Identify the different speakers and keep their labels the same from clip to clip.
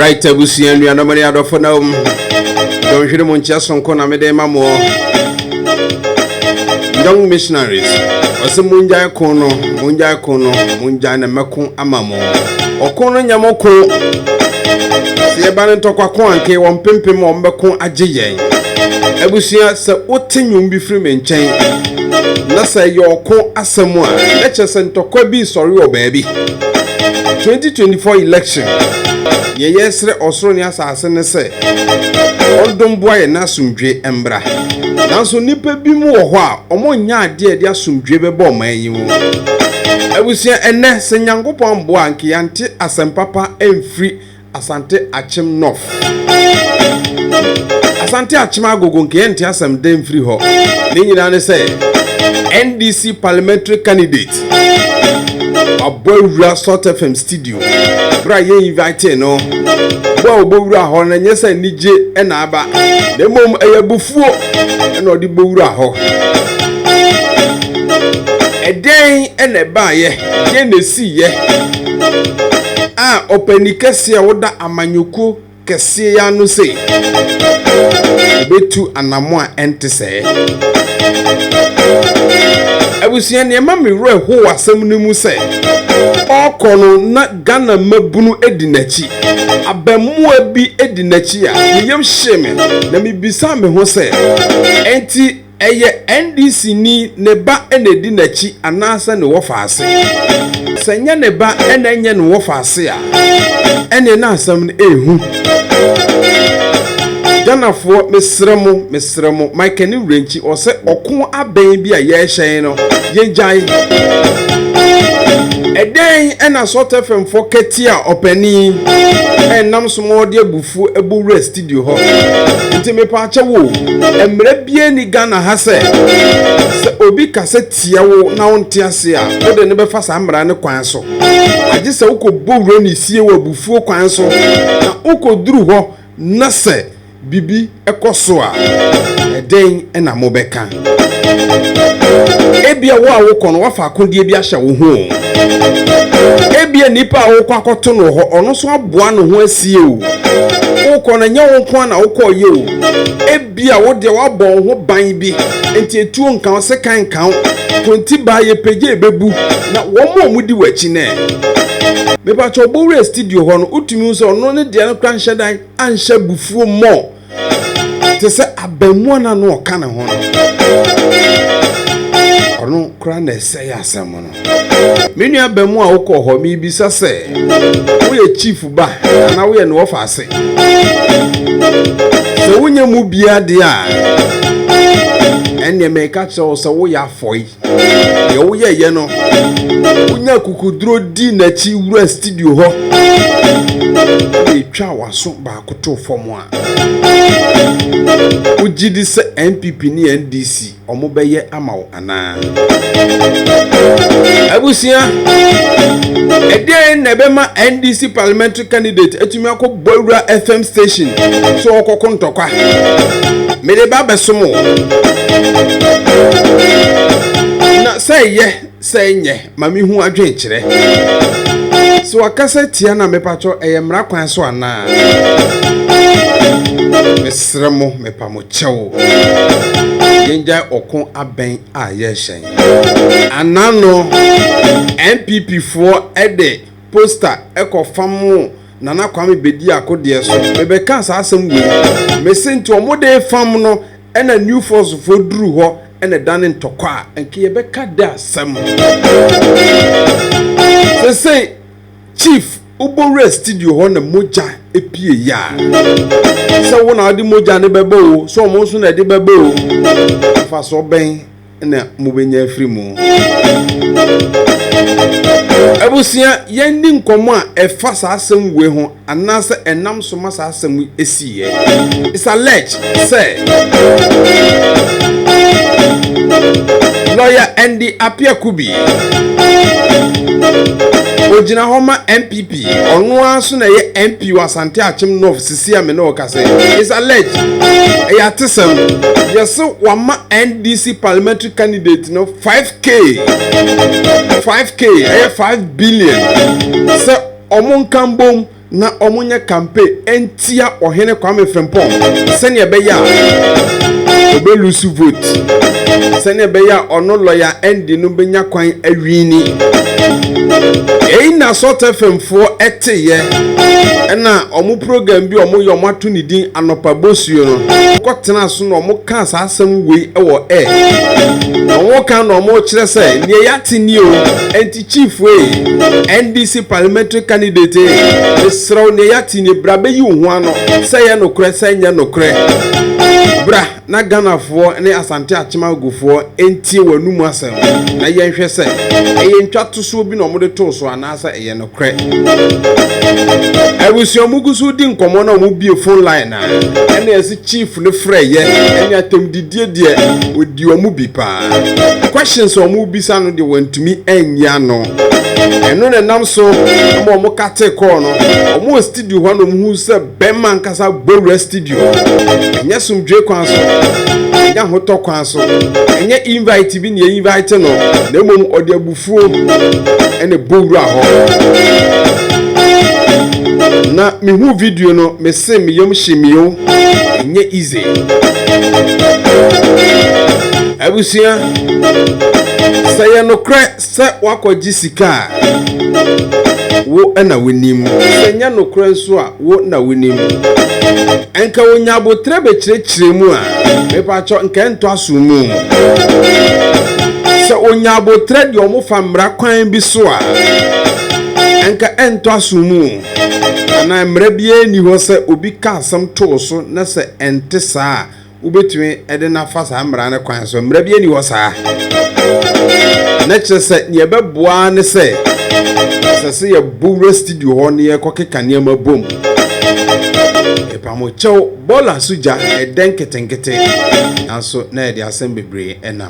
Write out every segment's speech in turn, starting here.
Speaker 1: right abusua nuanom ne adɔfo na wom dɔnhwere mu nkyɛ sonko na mede ma moɔ young missionaries ɔsɛ mongyae ko no mongyae ko no mongyae na mɛko ama mo ɔko no nyɛ mo ko sɛ yɛba no ntɔkwako anke wɔn mpempem wɔn bɛko agye yɛn abusua sɛ wote nnwom bi firi me nkyɛn na sɛ ɛyɛ ɔko asɛm a na kyerɛ sɛ ntɔkwa bi resɔre wɔ baabi 2024 election deɛ yɛresrɛ ɔsoro ne asase ne sɛ ɔdom boa yɛn na asomdwe mbra nanso nnipa bi mu wɔ hɔ a wɔnyɛ adeɛ a ɛde asomdwe bɛbɔ ɔman yi mu abusua ɛnɛ sɛ nyankopɔn amboa a nka yɛante asɛm papa mfiri Asante Akyem North. Asante Akyem Agogo nke yɛnte asɛm dɛ mfiri hɔ. Ne nyinaa ne sɛ NDC parliamentary candidate abɔ awura Salt FM studio bere a yɛ invite no bɔ a ɔbɔ wura hɔ no nyɛ sɛ anigye na aba na mmom ɛyɛ abufuo na ɔde bɔ wura hɔ. Ɛdɛn na ɛbaeɛ? Deɛn na ɛsiiɛ a ɔpanin kɛseɛ a ɔda amanyɔkuo kɛseɛ yi ano sei? Ɔbɛtu anamo a ɛnte sɛɛ. Abusua, deɛ ɛma me werɛ ho wɔ asɛm no mu sɛ, ɔrekɔ no na Ghana mmabunu di n'akyi. Abaamua bi di n'akyi a, ne yam hyee me, na mebisaa me ho sɛ, ɛnti Ɛyɛ NDC ni ne ba na ɛdi n'akyi anaasɛ ne wɔfaase? Sɛ ɛnyɛ ne ba na ɛnyɛ ne wɔfaase a, ɛneɛ na asɛm no ɛhu. Ghanafoɔ mesrɛ mo, mesrɛ mo, Michael ne Wurankyi ɔsɛ ɔko abɛn bi a yɛrehyɛn no, yɛgyae. Ɛdɛn ɛna Salt FM foɔ kɛtia ɔpanin ɛnam so ma ɔde abufuo ɛbɔ Wura Steven? studio hɔ nti mepaakyɛ wo mmerɛ bia ni Ghana ha sɛ sɛ obi ka sɛ tia wo na wonte ase a wode ne bɛfa saa mmara ne kwan so agye sɛ wokɔbɔ wura ne sie wɔ abufuo kwan so na wokɔduru hɔ na sɛ bibi ɛkɔ so a ɛdɛn na mobɛka Ebia wo a wokɔ no, woafa akodeɛ bi ahyɛ wo ho. Ebia nipa a wokɔ akɔto no wɔ hɔ, ɔno nso aboa ne ho asie o. Wokɔ no, nyɛ wo nko ara na wokɔɔyɛ o. Ebia wo deɛ woabɔ wo ho ban bi, nti etuo nka wo, sekan nka wo, kontibaa yɛ pɛ gye ɛbɛbu, na wɔn a wɔdi w'akyi no ɛ? Mepakyɛw, Bowura studio hɔ no, wotumi hu sɛ ɔno ne deɛ no koraa nhyɛ dan anhyɛ abufuo mmɔ. te sɛ abɛmmoa no ano ɔka ne ho no ɔno kora na ɛsɛ yɛ asɛm no me nua abɛmmoa a wokɔ hɔ mebisa sɛ woyɛ chief ba anaa woyɛ ne wɔfa ase sɛ wonyɛ mu biara deɛ a ɛnneɛ meka kyerɛ wo sɛ woyɛ afɔe Deɛ woyɛeɛ no, wonya kukuduro di n'akyi wura studio hɔ de twa w'aso baako to fam a, wogye di sɛ NPP ne NDC wɔbɛyɛ ama wo anaa? Abusua, ɛdeɛn na ɛbɛma NDC parliamentary candidate atumi akɔ bɔ awura fm station so ɔkɔko ntɔkwa mede ba bɛsom o na sɛ yɛ sɛ nyɛ ma mehu adwen kyerɛ sɛ wakasa tia na mepatwɔ ɛyɛ mmara kwan so anaa mesrɛ mo mepa mo kyɛw yɛngyae ɔko abɛn a yɛhyɛn anaa no npp foɔ ɛde poster ɛkɔ famoo Nana Kwame Bediako deɛ so. Mebɛkaa saa asɛm wei mu. Mese nti ɔmo dee fam no ɛna New Force foɔ duruu hɔ ɛna ɛdane ntɔkwa a, nka yɛbɛka dɛ asɛm. Sesei Chief wobɔ wuraa studio hɔ na mogya epie yɛ a, sɛ wo na wode mogya no bɛba oo, sɛ ɔmo nso na ɛde bɛba oo, mfasoɔ bɛn? na mobɛnya afiri mu abusua yɛndi nkɔmmɔ a ɛfa saa asɛm wei ho anaasɛ ɛnam so ma saa asɛm yi ɛsiiɛ is alleged sɛ lawyer Andy Apiakubi ogyina hɔ ma NPP ɔno ara so na ɛyɛ MP wɔ Asante Akyem North tia me na ɔka sɛ is alleged ɛyɛ atesɛm yɛse wama ndc parliamentary candidate no 5k 5k ɛyɛ 5 billion sɛ ɔmo nka mbom na ɔmo nyɛ campaign ɛntia ɔhene kwame frimpong sɛnea ɛbɛyɛ a ɔbɛlusu vote sɛnea ɛbɛyɛ a ɔno lɔya ɛndi no bɛnya kwan awini ɛyi na sɔtɛ fam foɔ ɛteeɛ ɛna ɔmo program bi ɔmo yɛ ɔmo ato ne din anɔpa bosuo no ɔkɔ tena so na ɔmo kaa saa asɛm wei ɛwɔ air na ɔmo ka na ɔmo kyerɛ sɛ nea yɛate ni o ɛnti chief ee ndc parliamentary candidate ee mesrɛw nea yɛate ni bra bɛyi wo ho ano sɛ yɛ nokorɛ sɛ nyɛ nokorɛ bra na Ghanafoɔ ne Asante Akyem-Agofoɔ ntie wɔn anum asɛm na yɛnhwɛ sɛ ɛyɛ ntwatosoɔ bi na wɔde too so anaasɛ ɛyɛ nokorɛ. Abusua wɔgu so redi nkɔmmɔ na wɔbue phone line a, ɛna ɛse Chief no frɛeɛ, ɛne atɛmdidie deɛ ɔdi wɔn bi paa. Questions a wɔrebisa no deɛ wɔantumi anyi ano. Ɛno na ɛnam so ma wɔkatee call no. Wɔwɔ studio hɔ a na wɔhu sɛ. Bɛmma ankasa bɔwura studio. Ɛnyɛ somdwoe kwan so. Ɛnyɛ ahotɔ kwan so. Ɛnyɛ invite bi na invite no, na mmom ɔde abufuo ɛna bɔwura hɔ. Na mehu video no, mese me yam hye me o. Ɛnyɛ easy. Abusua, sɛ yɛ nokorɛ. sɛ woakɔgye sika a, wo na wonim. Sɛ ɛnyɛ nokorɛ nso a, wo na wonim. Nka ɔnya aboterɛ bɛkyerɛkyerɛ mu a, mepakyɛ nka ɛntɔ aso mu. Sɛ ɔnya aboterɛ deɛ wɔfa mmara kwan bi so a, nka ɛntɔ aso mu. Anaa mmara biara nni hɔ sɛ obi ka asɛm too so na sɛ ɛnte saa a, wobɛtumi de no afa saa mmara no kwan so mmara bi ani hɔ saa na kyerɛ sɛ neɛ ɛbɛboa ne sɛ ɛsɛ sɛ yɛbo wura studio hɔ ne yɛkɔkeka nneɛma bom ɛpamokyɛw bɔɔla so gya ɛdɛ nketenkete nanso na yɛde asɛm bebree ɛnam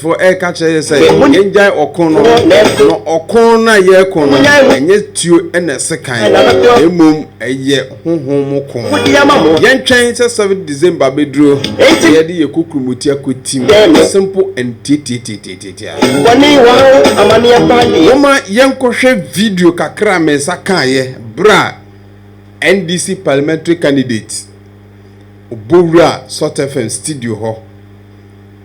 Speaker 1: Fo ɛka kyerɛ yɛ sɛ yɛn gyae ɔko no na ɔko no a yɛko no ɛnyɛ tuo ɛna ɛse kan mmom ɛyɛ honhom mu ko yɛn twɛn sɛ 7 December bɛduro sɛ yɛde yɛ kokurumuti akɔ tim simple and tietietietietia woma yɛnkɔ hwɛ video kakra me nsa kaayɛ bra NDC parliamentary candidate Obowura Salt FM studio hɔ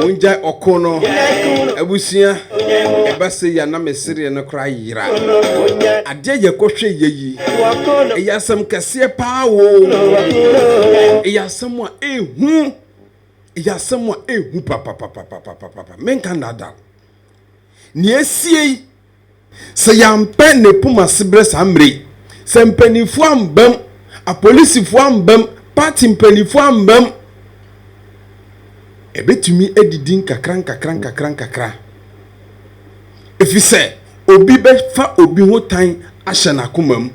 Speaker 1: mongyae ɔko no abusua ɛba sɛ yɛ na mesereɛ no koraa yera adeɛ yɛkɔhwɛ yɛ yi ɛyɛ asɛm kɛseɛ paa wo ɛyɛ asɛm a ɛhu ɛyɛ asɛm a ɛhu papapapapapapa menka nada nea ɛsiei Sɛ yɛampɛ ne poma asebrɛ saa mmerɛ yi, sɛ mpaninfoɔ amba mu, apolisifoɔ amba mu, party mpaninfoɔ amba mu, ɛbɛtumi adidi nkakra nkakra nkakra nkakra. Ɛfiri sɛ obi bɛfa obi ho tan ahyɛ n'akoma mu.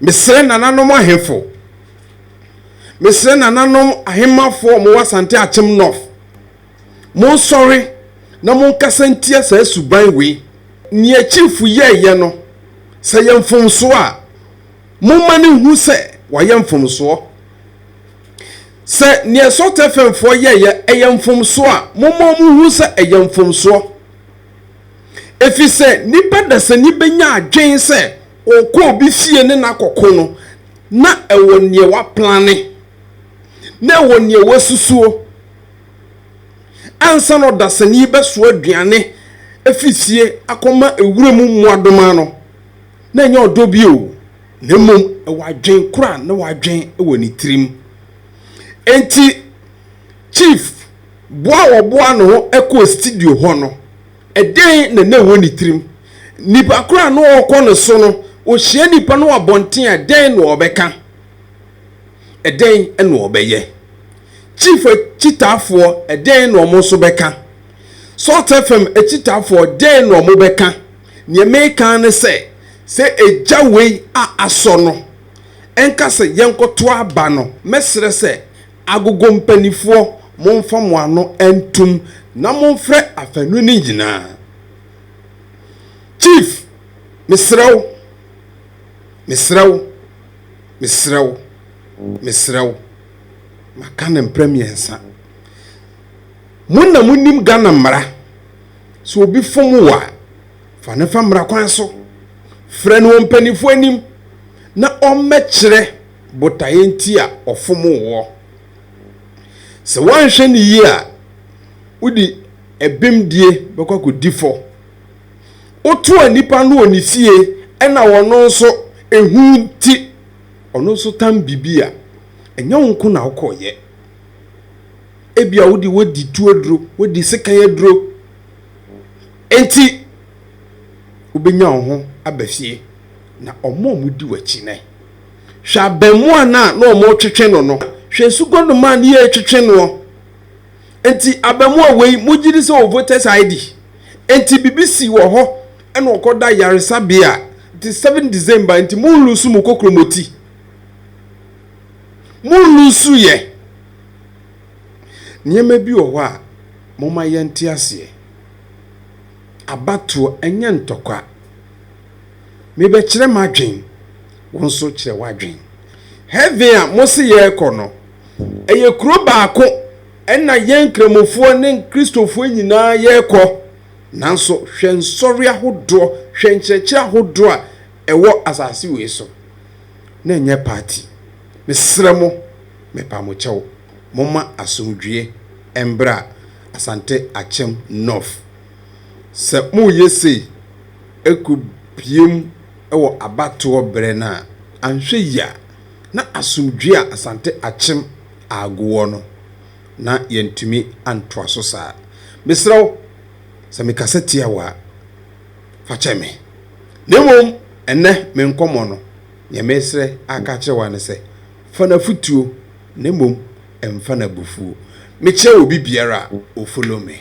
Speaker 1: Mesrɛ nananom ahemfo, mesrɛ nananom ahemmafoɔ a wɔwɔ Asante Akyem North, Monsɔre na monkasa ntia saa suban wei. Nea Chiefo yɛeɛ no, sɛ ɛyɛ mfomsoɔ a, momma no nhu sɛ wayɛ mfomsoɔ. Sɛ nea Sotefenfoɔ yɛeɛ yɛ mfomsoɔ a, momma wɔnhu sɛ ɛyɛ mfomsoɔ. Ɛfiri sɛ nnipa dasani bɛnya adwene sɛ ɔrekɔ obi fie ne no akɔko no, na ɛwɔ nea waplane, na ɛwɔ nea wasusuo. Ansa na ɔdasani yi bɛsoa aduane afi fie akɔma ewura mu mmoadoma no, na ɛnyɛ ɔdɔ bio, na mmom ɛwɔ adwen koro a na wadwen wɔ ne tirim. Enti, Chief boa a ɔboa ne ho kɔɔ studio hɔ no, ɛdɛn na na ɛwɔ ne tirim? Nipa koro a na ɔrekɔ ne so no, ɔhyia nipa no wɔ abɔnten a, ɛdɛn na ɔbɛka? Ɛdɛn na ɔbɛyɛ? Chief akyitaafoɔ dɛn na wɔn nso bɛka? Salt FM akyitaafoɔ dɛn na wɔn bɛka? Neɛ meka ara ne sɛ, sɛ egya wei a asɔ no nka sɛ yɛnkɔto aba no, mɛsrɛ sɛ Agogo mpanifoɔ monfa mo ano ntom na monfrɛ afanu no nyinaa. Chief, mesrɛ wo, mesrɛ wo, mesrɛ wo, mesrɛ wo. maka no mprɛ mmiɛnsa mo na mo nim Ghana mmara sɛ obi fom wɔ a fa ne fa mmara kwan so frɛ no wɔ mpanyinfoɔ anim na ɔmmɛkyerɛ botaeɛ nti a ɔfom woɔ sɛ woanhwɛ ne yie a wode ɛbemdie bɛkɔ akɔdi fɔ wotoa nipa no wɔ ne fie ɛna wɔno nso ehu nti Ɔno nso tan biribi a, ɛnyɛ wo nko na wokɔyɛ. Ebia wo de woadi tu aduro, woadi sekan aduro. Enti wobɛnya wo ho aba fie. Na wɔn a wɔdi w'akyi nnɛ, hwɛ abɛmoa no a na wɔretwetwe no no, hwɛ nsuguanoma a na yɛretwetwe noɔ. nti abamua wei mogye di sɛ ɔwɔ voters ID nti bibi si wɔ hɔ ɛna ɔkɔ da yaresabea nti seven December nti mo nlusu mo kokromoti mo nlusu yɛ nneɛma bi wɔ hɔ a mo ma yɛnte aseɛ abatoɔ ɛnyɛ ntɔkwa. Mebɛkyerɛ m'adwen, wo nso kyerɛ w'adwen. Heaven a mose yɛrekɔ no, ɛyɛ kuro baako ɛna yɛn Nkramofoɔ ne Kristofoɔ nyinaa yɛrekɔ. Nanso hwɛ nsɔre ahodoɔ, hwɛ nkyerɛkyerɛ ahodoɔ a ɛwɔ asase wei so. Na ɛnyɛ party. Mesrɛ mo, mepa mo kyɛw, momma asomdwie mbra Asante Akyem North. Sɛ moreyɛ sei rekɔbiem wɔ abatoɔ berɛ no a, anhwɛ yie a, na asomdwoeɛ a Asante Akyem Aago wɔ no, na yɛantumi antoa so saa. Mesrɛ wo, sɛ mekasa tia wo a, fa kyɛ me. Na mmom ɛnnɛ me nkɔmmɔ no, deɛ meresrɛ aka akyerɛ wo ara ne sɛ, fa no afotuo na mmom mfa no abufuo. Mekyerɛ wo biribiara a, o follow me.